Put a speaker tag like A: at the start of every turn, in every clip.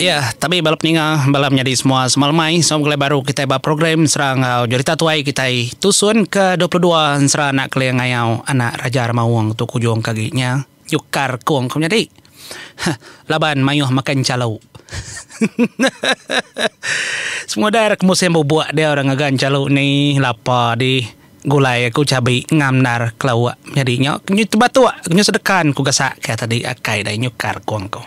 A: Iya, tapi bala peninga, bala menyadi semua semalamai sama begulai baru kitai ba program Sera enggau Jurita Tuai kitai tusun ke dua puluh dua Ensera Anak Keling Ngayau Anak Raja Remaung tu kujung ke agi nya nyukar kung ke menyadi huh laban mayuh makai enchalu semua udah ra ke musim bubuk dia orang ngaga enchalu ni lapa dih. Gulai aku cabi ngam ndar kelauk menyadi nyo nyu tebatuk nyu sedekan ku gasak ke tadi akai dai nyukar kong ku.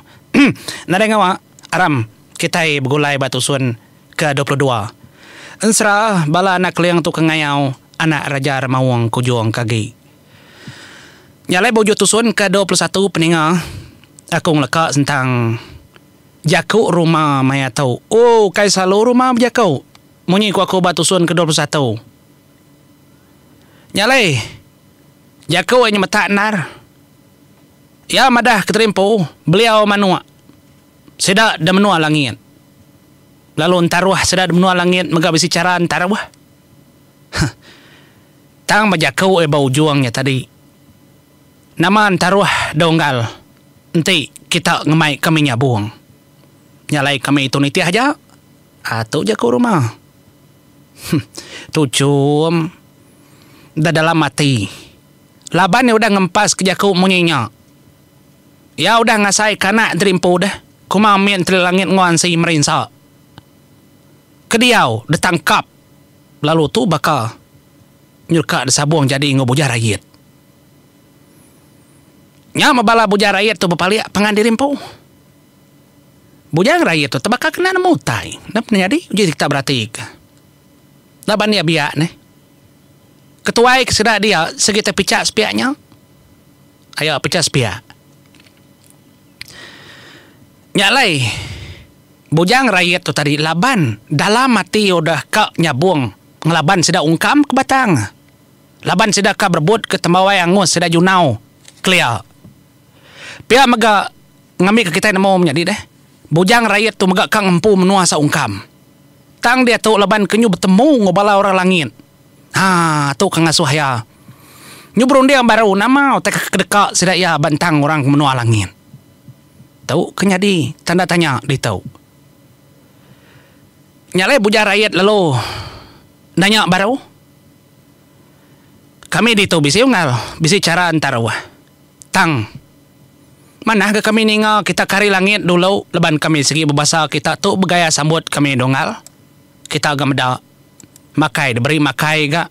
A: Nadai ngawa aram kitai begulai ba tusun ke dua puluh dua. Ensera bala anak keling tu ke ngayau anak Raja Remaung ke ujung ke agi. Nya alai ba ujung tusun ke dua puluh satu peninga aku ngeleka sentang jaku rumah maya tu. Ooh ukai selalu rumah bejaku munyi ku aku ba tusun ke dua puluh satu. Nya alai, jaku iya nyemetak endar. Iya madah Keteria Empu beliau manuk sida da menua langit lalu entaruh sida da menua langit mega bisi chara entaruh. Huh. Tang ba jaku iya ba ujung nya tadi, nama entaruh da unggal enti kita ngemaika mih nyabung. Nya alai kami tu nitih aja. Ah tu ja ku rumah. Huh tu chum da dalam ati. Laban iya udah ngempas ke jaku munyi nya. Iya udah ngasai ke anak diri empu deh kuma mih Entri Langit enggau Ansi Merinsa. Ke diau ditangkap lalu tu baka nyuka disabung jadi enggau Bujah Rayit. Nya meh bala Bujah Rayit tu bepalik pangan diri empu. Bujang raie tu tebaka kena nemu utai. Napa nyadi? Uji kita beratika. Laban iya biak neh. Ketuai ke sida dia sigi te picha sepiak nya. Ayo picha sepiak. Nya alai bujang raie tu tadi laban dalam ati iya udah ka nyabong ngelaban sida ungkam ke batang. Laban sida ka berebut ke tembuai angus sida Junau kelia. Pia mega ngambika kitai nemu menyadi deh, bujang Rayet tu mega ka ngempu menua seungkam. Tang diatu laban ke nyu betemu enggau bala orang langit. Ha tu ke ngasuh iya nyu berunding baru nama utai ke kedeka sida iya bentang orang ke menua langit. Tu ke nyadi tanda tanya ditu. Nya alai bujang Rayet lalu nanya baru. Kami ditu bisi unggal, bisi chara entaruh. Tang. Manah ga kami ninga kita ke hari langit dulu leban kami sigi bebasa kita tu begaya sambut kami Dongal. Kita ga meda. Makai diberi makai ga.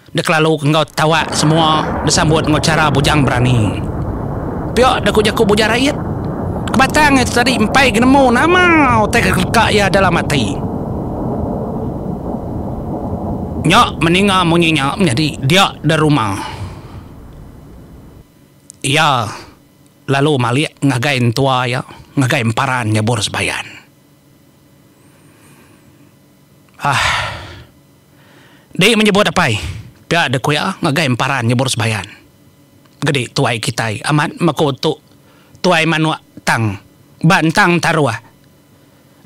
A: Dikelalu enggau tawak semua disambut enggau chara bujang berani. Pia da ku jaku Buja Rayit. Kebatang iya tu tadi empai genemu nama utai ke keleka iya dalam ati. Nya meninga munyi nya menyadi dia da rumah. Iya lalu malik ngagai entua iya ngagai emparan nyebur sebayan. Aah. Dih menyebut apai pia dek ku iya ngagai emparan nyebur sebayan. Gedi tuai kitai amat meh ku tu tuai manuk tang ba entang entaruh.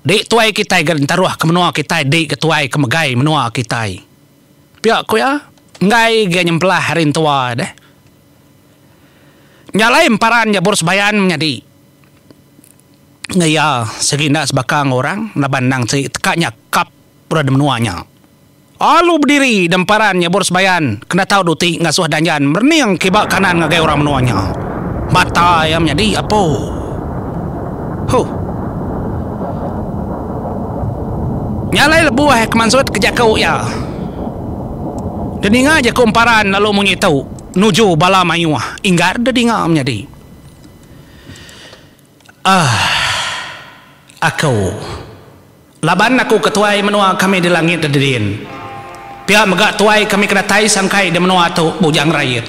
A: Dih tuai kitai gak entaruh ke menua kitai dih gak tuai ke megai menua kitai. Pia ku iya, enggai agi nyempelah hari entua deh. Nya alai emparan Jabur Sebayan menyadi enggau iya sigi enda sebaka enggau orang laban endang ti teka nya kap udah di menua nya. Alu bediri deh emparan Jabur Sebayan ke enda tau duti ngasuh Danjan merening kiba kanan ngagai orang menua nya. Mata iya menyadi apo. Huh. Nya alai lebuh ke mansut ke jaku iya. Deninga jaku emparan lalu munyi tu nuju bala mayuh inggar dedinga menyadi. Ahh. Aku. Laban aku ke tuai menua kami di langit dedin. Pia mega tuai kami ke datai sangkai di menua tu Bujang Rayit.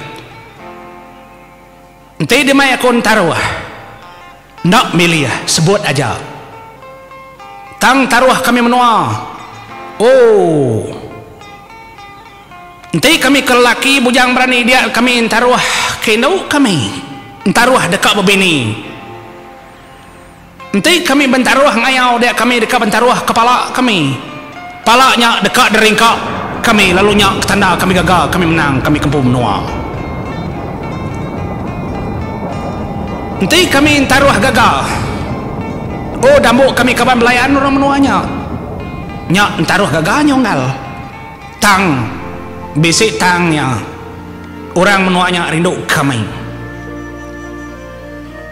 A: Enti demai aku entaruh. Enda milih sebut aja. Tang taruh kami menua. Ooh. Enti kami ke lelaki bujang berani dia kami entaruh ke indu kami. Entaruh deka bebini. Enti kami bentaruh ngayau dia kami deka bentaruh kepala kami. Pala nya deka deringka kami lalu nya ke tanda kami gaga kami menang kami ke empu menua. Enti kami entaruh gaga oh dambu kami kaban belayan orang menua nya. Nya entaruh gaga nya unggal. Tang bisi tang nya orang menua nya rindu kami.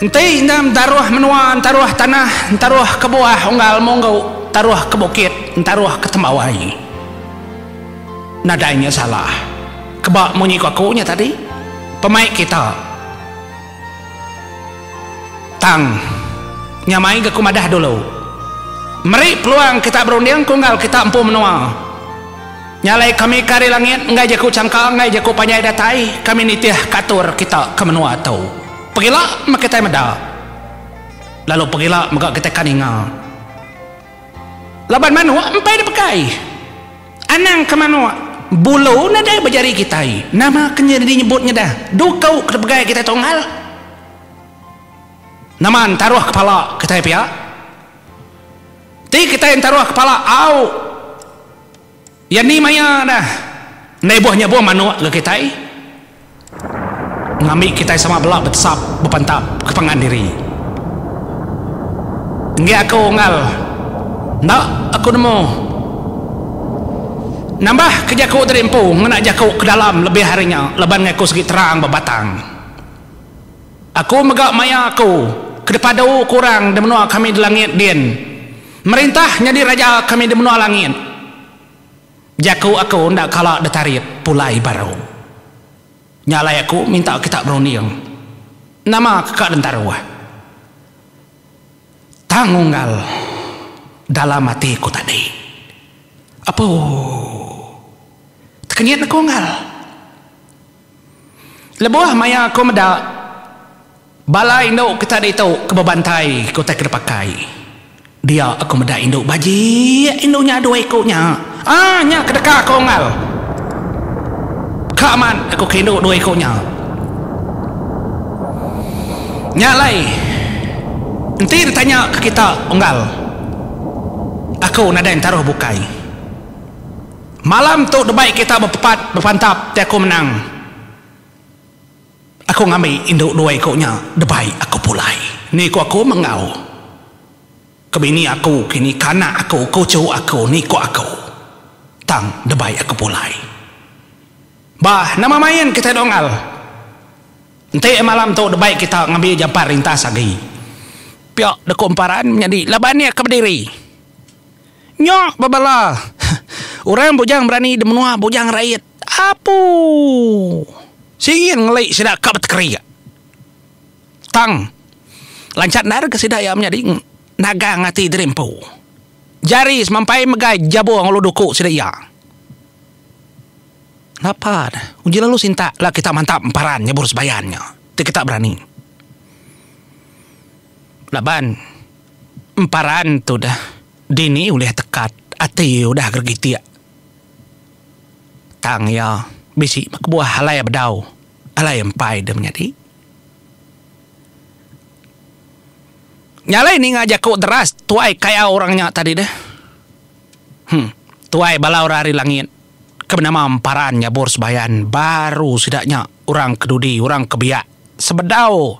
A: Enti enggam taruh menua entaruh tanah entaruh ke buah unggal munggu taruh ke bukit entaruh ke tembawai nadai nya salah keba munyi ku aku nya tadi pemai kita tang nya mai ga ku madah dulu meri peluang kita berunding ku unggal kita empu menua. Nya alai kami ke ari langit enggai jaku changka enggai jaku panjai datai kami nitih ke atur kita ke menua tu. Pegila meh kitai meda. Lalu pegila mega kitai ka ninga. Laban manuk empai dipegai. Anang ke manuk, bulu nadai ba jari kitai. Nama ke nyadi nyebut ngedah dukau ke dipegai kitai tunggal? Nama entaruh kepala kitai pia? Ti kitai entaruh kepala au. Iya ni maya dah endai buh nya buh manuk ga kitai ngambi kitai sama bela betesap bepantap ke pangan diri. Enggi aku unggal enda aku nemu nambah ke jaku tadi empu ngena jaku ke dalam lebih ari nya laban ngai aku sigi terang ba batang. Aku mega maya aku ke dipadu ku orang di menua kami di langit din Merintah nyadi raja kami di menua langit. Jaku aku enda kala ditarit pulai baru. Nya alai aku minta kita berunding nama ke ka dentaruh tang unggal dalam ati ku tadi. Apu. Tekenyit aku unggal. Lebuh maya aku meda. Bala indu ke tadi tu ke bebantai ke utai ke dipakai dia aku meda indu bajik indu nya dua iku nya ah nya ke deka aku unggal ka amat aku ke indu dua iku nya nya alai enti ditanya ke kita unggal aku nadai entaruh bukai malam tu debai kita bepepat bepantap ti aku menang. Aku ngambi indu dua iku nya debai aku pulai. Ni ku aku menggau ke bini aku kini kanak aku kuchu aku ni ku aku tang debai aku pulai. Bah nama main kitai dongal. Enti malam tu debai kita ngambi jampat rintas agi. Pia da ku emparan menyadi laban iya ke bediri. Nya bebala orang bujang berani di menua bujang rait. Apu! Singin ngelai sida ka betekeria. Tang, lancha enda deka sida iya menyadi nagang ati diri empu. Jari semampai mega jabung lalu duku sida iya. Napa ne, uji lalu sinta la kita mantap emparan nyebur sebayan nya ti kita berani. Laban emparan tu deh dini ulih tekat ati udah gerigitik. Tang iya bisi ba kebuah alai bedau, alai empai deh menyadi. Nya alai ninga jaku deras tuai kayau orang nya tadi deh. Huh. Tuai bala orang ari langit ke benama emparan nyabur sebayan baru sida nya orang ke dudi, orang ke biak sebedau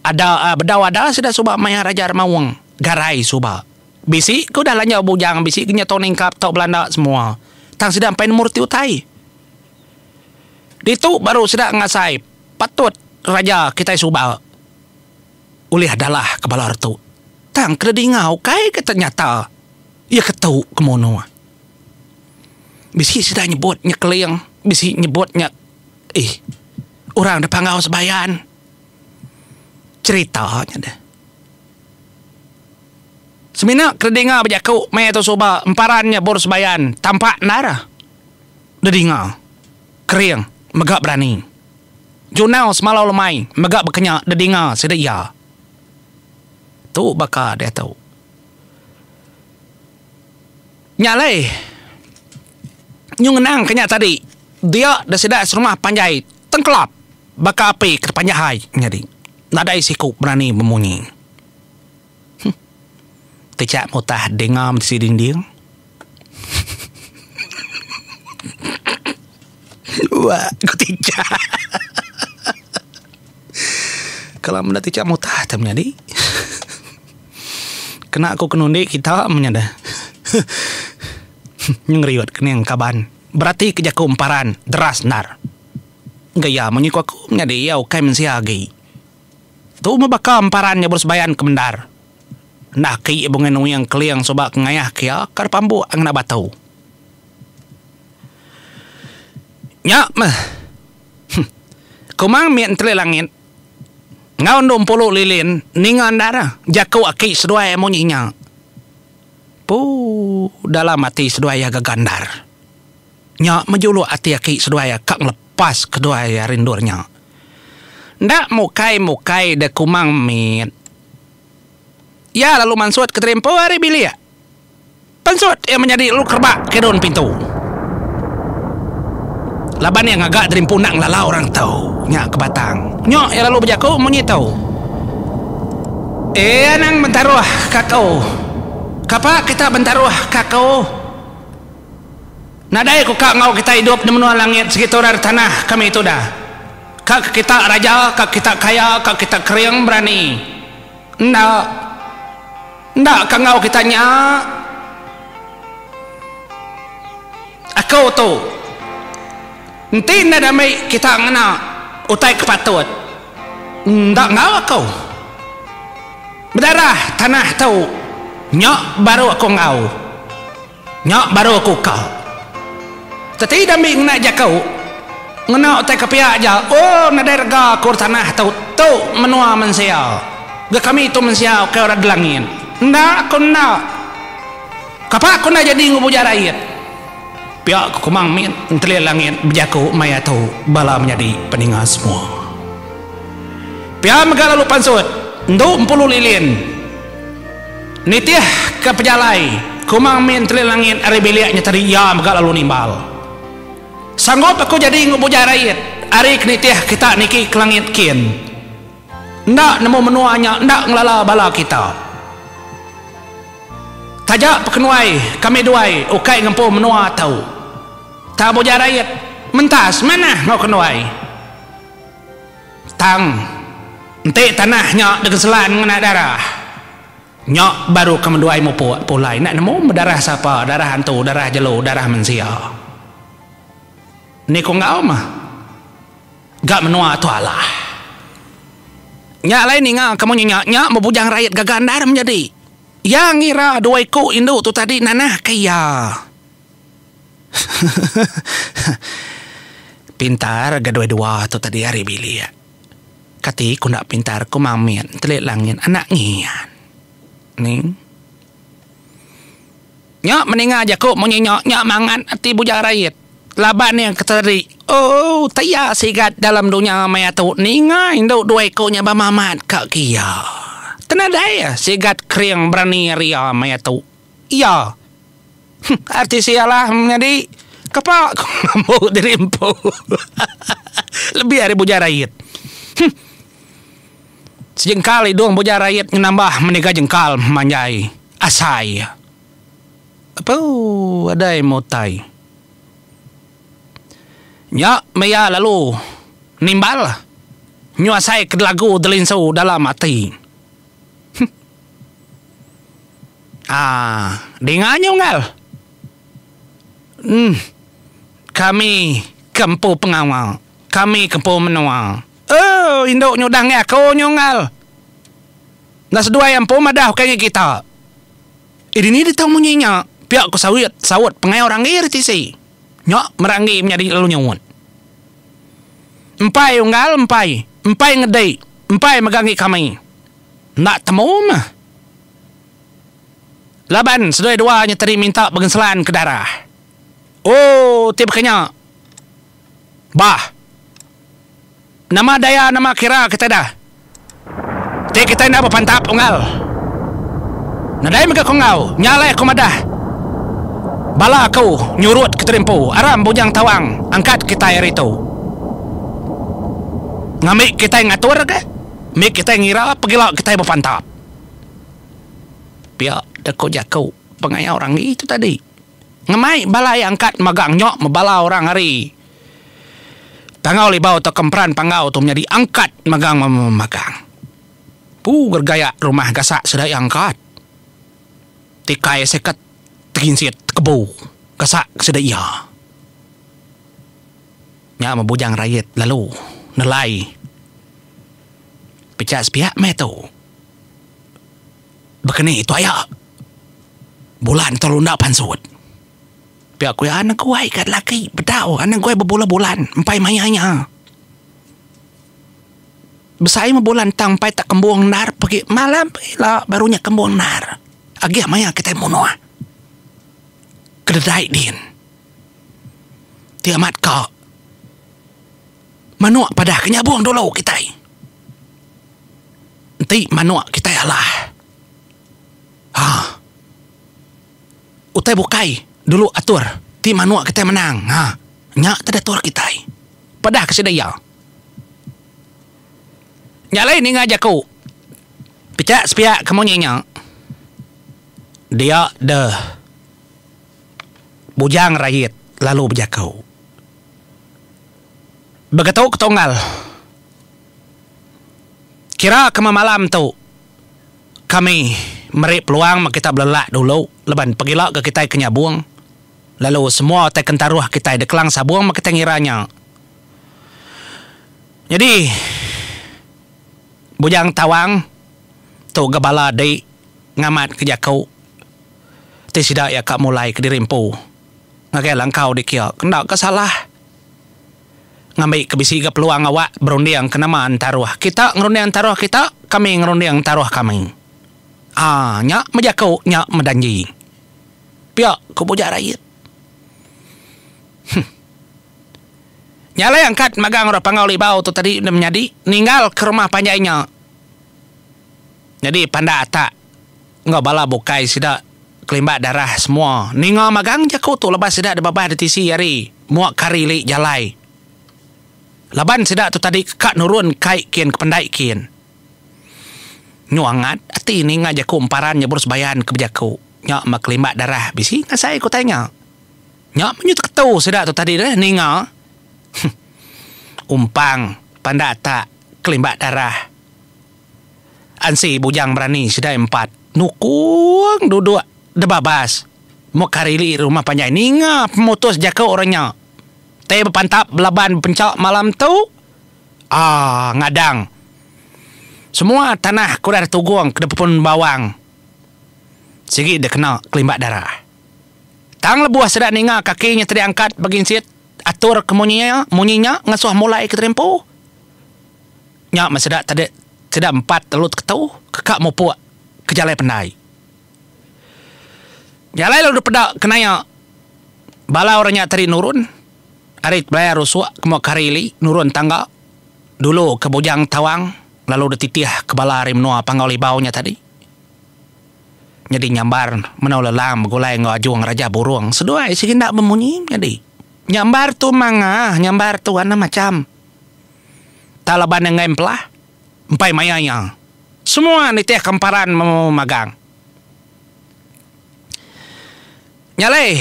A: ada, bedau ada sida suba maya Raja Remaung garai suba. Bisi ke udah lanjau bujang bisi ke nya tau ningkap tau belanda semua tang sida empai nemur ti utai. Ditu baru sida ngasai patut raja kitai suba ulih dalah ke bala retu tang kena dinga ukai ke tenyata iya ke tu ke munuh. Bisi sida nyebut nya keling bisi nyebut nya ih orang da panggau sebayan cherita nya deh. Semina kedinga bejaku meh tu suba emparan nya bur sebayan tampak endar dedinga kering mega berani junau semalau lemai mega bekenya dedinga sida iya. Tu baka diatu nya alai nyu ngenang kenya tadi dia da sida serumah panjai tengkelap baka api ke tepanjahai nyadi nadai siku berani bemunyi. Kejak mutah denga mesi dinding. Ua ku Tijah. Kalau meda Tijah mutah te menyadi. Kena ku kenundi kita menyada. Nyu ngeriut kening kaban. Beratika jaku emparan deras endar. Gaya munyi ku aku menyadi iya ukai mensia agi. Tu meh baka emparan nyabur sebayan ke mendar. Enda aki bungai nuing keling suba ke ngayah ke iya ka depambuk ngena batu. Nya meh. Huh. Kumang mit enteli langit enggau endu empulu lilin ninga endar jaku aki seduai munyi nya. Puu dalam ati seduai iya gaga endar. Nya mejuluk ati aki seduai ka ngelepas keduai ari endur nya. Enda mukai-mukai deh Kumang mit. Iya lalu mansut ke terimpu ari bilik. Pensut iya menyadi lalu kerebak kidun pintu. Laban iya ngaga terimpu enda ngelala orang tu. Nya ke batang. Nyuk iya lalu bejaku munyi tu. Eh anang bentaruh ka aku. Kapa kita bentaruh ka aku. Nadai ku ka enggau kita idup di menua langit segitu ari tanah kami tuda. Ka ke kita raja, ka ke kita kaya, ka ke kita kering berani. Enda. Enda ka enggau kita nya. Aku tu. Enti enda dami kita ngena utai ke patut. Enda enggau aku. Bedarah tanah tu nya baru aku enggau. Nya baru aku ka. Teti Dambi ngena jaku, Ngena utai ke pia aja, oh nadai rega akur tanah tu, tu menua mensia. Ga kami tu mensia ukai orang Delangit. Enda ku enda. Kapa ku enda jadi enggau buja rayit? Pia ku Kumang Mit ntelil langit bejaku maya tu bala menyadi peninga semua. Pia mega lalu pansut, Endu Empulu Lilin. Nitihka pejalai ku Mang Min Entri Langit ari bilik nya tadi iya mega lalu nimbal. Sanggup aku jadi enggau bujai rait ari ke nitih kita niki ke langit kin. Enda nemu menua nya enda ngelala bala kita. Taja pekenuai kami duai ukai ngempu menua tu. Tang bujai rait mentas manah enggau kenuai. Tang, enti tanah nya digeselan ngena darah, nya baru ke meduai mupuk pulai enda nemu meh darah sapa, darah antu, darah jelu, darah mensia. Ni ku enggau meh ga menua tu alah. Nya alai ninga ke munyi nya, nya meh bujang rayat gaga endar menyadi. Iya ngira dua iku indu tu tadi nanah ke iya. pintar ga doi dua tu tadi ari bilik. Kati ku enda pintar ku mamit entelik langit anak ngian. Ning. Nya meninga jaku munyi nya nya mangat ati Bujang Rait. Laban iya ke teri ooh teya sigat dalam dunya maya tu ninga indu dua iku nya bemamat ka ke iya. Tenadai sigat kering berani ari iya maya tu. Iya. Huh artis iya lah menyadi kepa ku mambu diri empu. Lebih ari Buja Rayit. Huh. Sejengkal idung Buja Rayit nyu nambah meniga jengkal manjai asai iya. Apuh adai meh utai. Nya meh iya lalu nimbal nyu asai ke lagu delinsu dalam ati. Huh. Ah, dinga nyu Ngal. Uhm. Kami ke empu pengawa. Kami ke empu menua. Ooh, indu nyudah ngi aku nyu Ngal. Enda seduai empu madah ukai ngi kita. Eh dini deh tau munyi nya? pia ku Sawit saut pengau Ranggi ri tisi. Nya meh Ranggi menyadi lalu nyuut. Empai u Ngal, empai. Empai ngedi. Empai mega ngi kami. Enda temu meh. Laban seduai dua nya tadi minta begenselan ke darah. Oh ti baka nya. Bah. Nama daya nama kira kitai da. Ti kitai enda bepantap unggal. Nadai mega ku enggau. Nya alai aku madah. Bala aku nyurut ke tadi empu. Aram Bujang Tawang angkat kitai hari tu. Ngambi kitai ngatur ke. mit kitai ngira pegila kitai bepantap. Pia deh ko jaku pengaya orang agi tu tadi. Ngemai bala iya angkat magang nyo mebala orang ari Tangau Libau tauka Emperan Panggau tu menyadi angkat magang memagang. Pu gergaya rumah gasak sida iya angkat. Tikai seket teginsit tekebu gasak sida iya. Nya meh bujang rayat lalu nelai pechak sepiak meh tu. Bekeni tu aya bulan entur unda pansut. Pia ku iya anak guai ka laki bedau anak guai bebulan bulan empai maya nya. Besai meh bulan tang empai tak kembung endar pagi malam ila baru nya kembung endar. Agih maya kitai munuh. Kededai din. Ti amat ka manuk padah ke nyabung dulu kitai. Enti manuk kitai alah aaa utai bukai dulu atur ti manuk kitai menang aaa nya tadi atur kitai padah ke sida iya. Nya alai ninga jaku picak sepiak ke munyi nya dia deh. Bujang Rayit lalu bejaku, Begetu ke tunggal, kira ke memalam tu kami meri peluang meh kita belelak dulu laban pegila ke kitai ke nyabung lalu semua utai kentaruh kitai di Kelang Sabung meh kitai ngira nya. Nyadi Bujang Tawang tu gak bala dei. Ngamat ke jaku ti sida iya ka mulai kediri empu ngagai langkau dikia enda ka salah. Ngambi ke bisi ga peluang awak berunding ke nama entaruh kita ngerunding entaruh kita, kami ngerunding entaruh kami. Aa nya meh jaku nya meh danji pia ku Bujak Rayit. Huh. Nya alai angkat magang orang Panggau Libau tu tadi enda menyadi ninggal ke rumah panjai nya. Nyadi pandak atak enggau bala bukai sida kelimbat darah semua ninga magang jaku tu lebuh sida dibabah ditisi ari mua kari li jalai laban sida tu tadi ka nurun kai kin ke pendai kin nyu angat ati ninga jaku emparan nyebur sebayan ke bejaku nya meh kelimbat darah bisi ngasai ku utai nya nya meh nyu teketu sida tu tadi deh ninga huh umpang pandak atak kelimbat darah. Ansi bujang berani sidai empat nukung duduk deba bas. Mok karili ri rumah panjai ninga pemutus jaku orang nya. Tei bepantap belaban bepenca malam tu. Aaa ngadang. Semua tanah ke udah ditugung ke dipepun bawang sigi dikena kelimbat darah. Tang lebuh sida ninga kaki nya tadi angkat beginsit atur ke munyi munyi nya ngesuh mulai ke tadi empu. Nya meh sida tadi sida empat telu teketu ke ka mupuk ke jalai pendai. Jalai lalu dipeda ke naya bala orang nya tadi nurun ari belaya rusuk ke muka hari ili nurun tangga dulu ke Bujang Tawang lalu dititih ke bala ari menua Panggau Libau nya tadi nyadi nyambar Menua Lelang begulai enggau Ajung Raja Burong seduai sigi enda bemunyi nyadi nyambar tu mangah nyambar tu anang macham. Taliban enggai empelah empai maya iya. Semua nitih ke emparan magang. Nya alai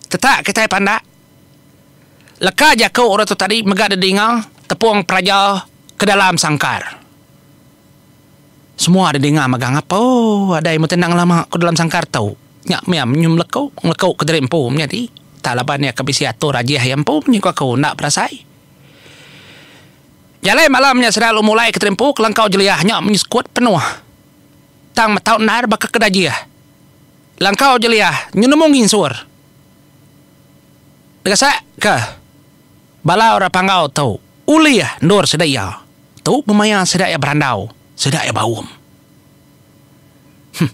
A: tetak kitai pandak leka jaku orang tu tadi mega didinga tepung peraja ke dalam sangkar. Semua deh dinga mega ngapa ooh adai meh tenang lama ko dalam sangkar tu nya meh iya menyuh meleku meleku ke diri empu menyadi tak laban iya ke bisi atur ajih iya empu menyuh aku enda berasai jalai malam nya sida lalu mulai kediri empu kelangkau jelia nya menyuh sekut penuh tang metau endar baka ke dajih langkau jelia nyenemu nginsur dega sak ka. Bala orang Panggau tu ulih endur sida iya tu bemaya sida iya berandau, sida iya baum. Huh.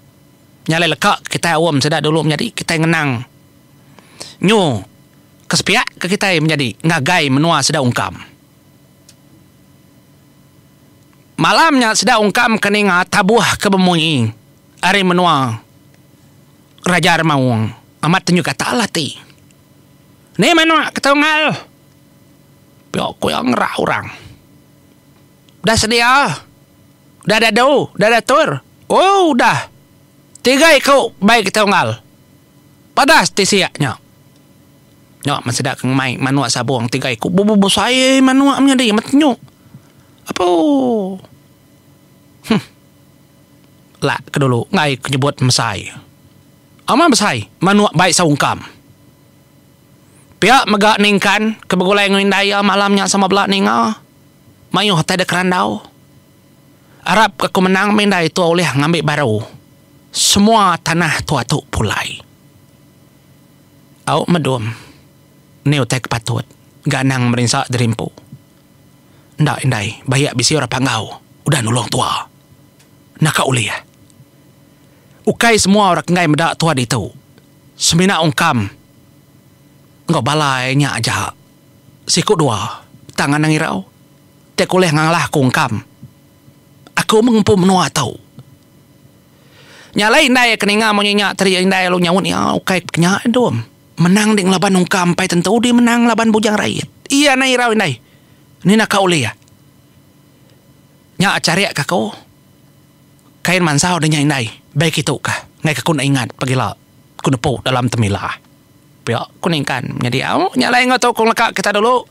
A: Nya alai leka kitai aum sida dulu menyadi kitai ngenang nyu ke sepiak ke kitai menyadi ngagai menua sida ungkam. Malam nya sida ungkam ke ninga tabuh ke bemui ari menua Raja Remaung amat tenyu gatal ati. Ni manuk ke tunggal pio kuyo ngerak orang udah sedia udah dadu udah datur ooh udah tiga iku bayi ke tunggal padas ti sia nyo nyo men sida ke ngumbai manuk sabong tiga iku bebesai manuk nyadi metenyo apuh. Huh. Lak ke dulu enggai ku nyebut mesai. Ama besai manuk bai saungkam. Pia mega Ningkan ke begulai enggau indai iya malam nya sama bela ninga. Mayuh tai deka randau. Arap ke aku menang meh indai tua ulih ngambi baru semua tanah tua tu pulai. Au Medum ni utai ke patut ga anang merinsa diri empu. Enda indai, bayak bisi orang panggau udah nulung tua. Naka ulih. Ukai semua orang kenggai meda tua ditu. Semina ungkam enggau bala iya nya aja. Siku dua tang anang irau ti aku ulih ngalah aku ungkam. Aku meh ngempu menua tu. Nya alai indai ke ninga munyi nya tadi indai lalu nyaut iya ukai ke nya dom. Menang deh ngelaban ungkam empai tentu deh menang ngelaban bujang rayit. Iya nai irau indai. Ni na ka ulih. Nya charik ka ko. Kain mansau deh nya indai. Bai kitu ka. Ngai ka ko enda ingat pagila ko nepu dalam temila. Pia ko ningkan nyadi au. Nya alai enggau tu ko ngeleka kita dulu.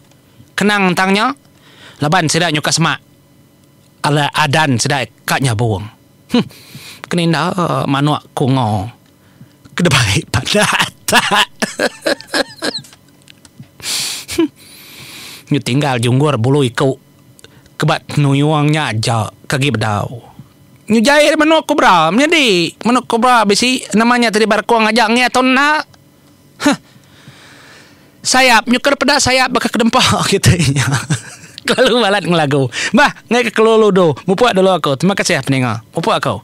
A: Kenang tang nya. Laban sida nyuka semak adan sida ka nyabung. Huh. Keninda manuk ko enggau. ke dibai pandak atak nyu tinggal junggur bulu iku ke ba tenuyung nya aja ke agi bedau nyu jai ari menu kobra menyadi menu kobra bisi nama nya tadi barekong aja ngeang tau enda. Huh. Sayap, nyukar peda sayap baka kedempa, kata iya. Kelalu balat ngelagu. Bah, enggai ke kelalu du. Mupuk dulu aku. Terima kasih peninga. Mupuk aku.